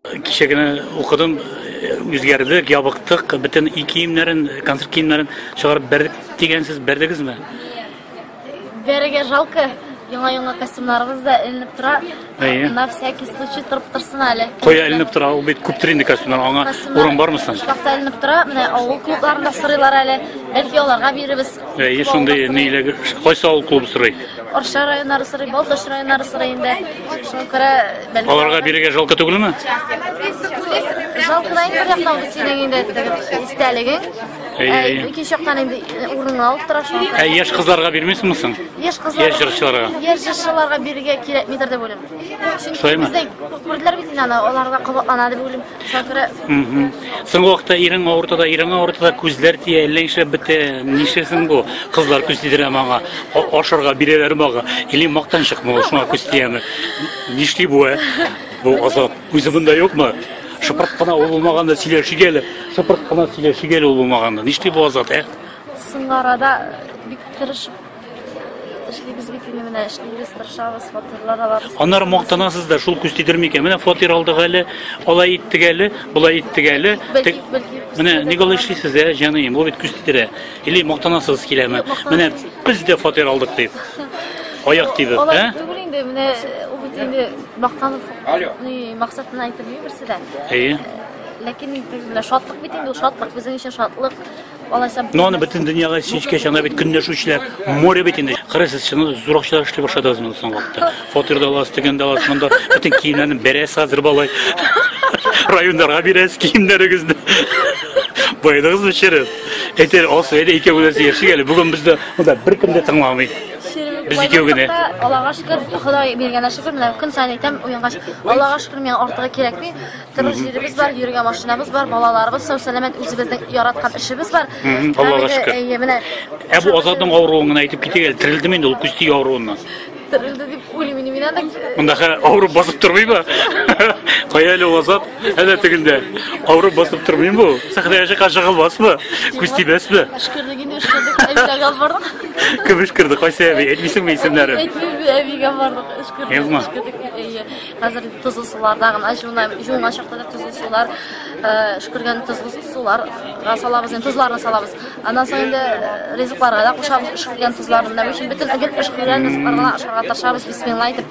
Кичә генә укыдым, үзгәрдек, ябыктык, бөтен и киемнәрен, концерт киемнәрен чыгарып бердек дигәнсез, бердегезме? Бәрегә жалко. Яңа-яңа костюмнарыбыз да эленеп тора. Әйе. На всякий случай торып торсын әле. Кая эленеп тора, ул бит күптер инде костюмнар, аңа Костюмнар урын бармы соң? Шкафта эленеп тора. Менә авыл клубларында сорыйлар әле. Бәлки аларга бирербез. Әйе, шундый ниләр кайсы авыл клубы сорый? Арча районнары сорый, Балтач районнары сорый инде. Шуңа күрә бәлки. Аларга бирергә жалко түгелме? Жалко да инде яктан ул синең инде истәлегең. Әйе. Ике яктан инде урынны алып тора шуңа күрә. Әйе, яшь кызларга бирмисеңме соң? Яшь кызлар. Яшь җырчыларга. Яшь җырчыларга бирергә кирәкмидер дип уйлыйм. Шулаймы? Бездә күрделәр бит инде аны, аларга кабатлана дип уйлыйм. Шакира. Соңгы вакытта ирең авырта да, ирең авырта да, күзләр тия, әллә нишләп бетә. Нишләсен бу? Кызлар күз тидерә маңа, ашырга бирәләр мага. Или мактанчык мул, шуңа күз тияме? Нишли бу? Э? Бу азап. Үзе монда юкмы? Шыпырт кына ул булмаганда сөйләшик әле. Шыпырт кына сөйләшик әле ул булмаганда. Нишли бу азат, ә? Соңарада бик тырышып Эшлибез бит инде менә эшлибез, тырышабыз, фатирлар алабыз. Аннары мактанасыз да, шул күз тидер микән? Менә фатир алдык әле, алай иттек әле, болай иттек әле. Менә ник алай эшлисез, ә, җаныем, бу бит күз тидерә. Или мактанасыз киләме? Менә без дә фатир алдык дип. Аяк тибеп, ә? Түгел инде, менә ул бит инде мактанып, ни максатына әйтелми берсе дә. Әйе. Ләкин инде шатлык бит инде, шатлык безнең өчен шатлык. Но аны бөтен дөньяга синчкәч, анда бит көнләшүчеләр море бит инде. Кырысыз, чын зур акчалар эшли башладыгыз монда соң вакытта. Фатир да аласыз, тегән дә аласыз, монда бөтен киемнәрне бәрәс хәзер балай. Районнарга бирәс киемнәрегезне. Байдыгыз бишерез. Әйтер, асы әле икәүләс яшик әле. Бүген бездә монда бер кем дә тыңламый. Без икәү генә. Аллага шөкер, Ходай биргәнә шөкер, менә көн сайын әйтәм, уянгач, Аллага шөкер, миңа артыгы кирәкми. Торыр җиребез бар, йөргән машинабыз бар, балаларыбыз сау сәламәт, үзебезнең яраткан эшебез бар. Аллага шөкер. Әйе, менә. Ә бу Азатның авыруын гына әйтеп китегез, терелдеме инде ул күсти авыруыннан? Терелде дип уйлыйм инде мин анда. Мондагы авыру басып тормыймы? Кая әле ул Азат? Әнә тегендә. Авыру басып тормыймы бу? Сәхнәгә чыккан жыгылмасмы? Күз тибәсме? Эшкердек инде, эшкердек. Әйдә гал бардык. Кем эшкерде? Кайсы әби? Әйтмисеңме исемнәрен? Әйтмим, әбигә бардык. Эшкердек, Язма. эшкердек. Әйе. Хәзер тозлы суларда гына җуына, җуына чакта да тозлы сулар, э, шөкергән тозлы сулар салабыз, инде тозларны салабыз. Аннан соң инде э, ризыкларга да кушабыз шөкергән тозларны. Менә өчен бөтен әдәп шөкергән ризыкларга ашарга тырышабыз, бисмилла әйтеп.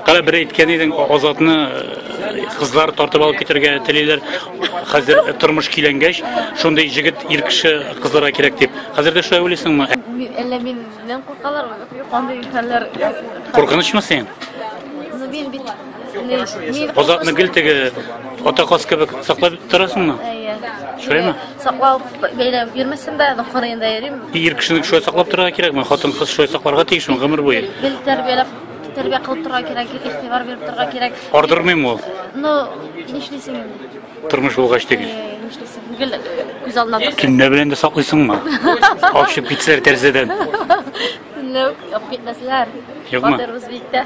Кара бер әйткән идең, Азатны э, кызлар тартып алып китергә телиләр. Хәзер тормыш киләнгәч, шундый җегет ир кеше кызларга кирәк дип. Хәзер дә шулай уйлыйсыңмы? Әллә мин Нәм куркалар, андый хәлләр. Куркынычмы син? Ну, мин бит... Озатны гел теге ата каз кебек саклап торасыңмы? Әйе. Шулаймы? Саклау бәйләп йөрмәсен дә, нохыр инде йөрим. Ир кешене шулай саклап торырга кирәкме? Хатын кыз шулай сакларга тиешме гомер буе? Гел тәрбияләп тәрбия кылып торырга кирәк, игътибар биреп торырга кирәк. Ардырмыйм ул. Ну, нишлисең инде? Тормыш булгач түгел. Нишлисең? Гел күз алдына тот. Төнлә белән дә саклыйсыңмы? Ашып китсәләр тәрәзәдән. Төнлә үк алып китмәсләр. Юкмы? Батырбыз бит тә.